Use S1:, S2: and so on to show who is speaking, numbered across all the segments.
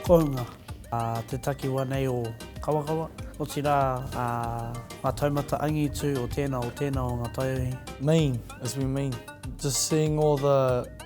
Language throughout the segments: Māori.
S1: Kounga, te takiwa nei o Kawakawa, otirā ngā taumata angitu o tēnā, o tēnā o ngā taiohi. Mean, as we
S2: mean, just seeing all the.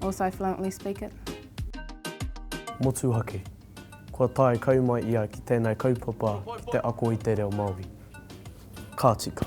S3: Also fluently speak it. Motuhake,
S4: Kua tae kai mai ia ki tēnei kaupapa ki te ako i te reo Māori. Ka tika.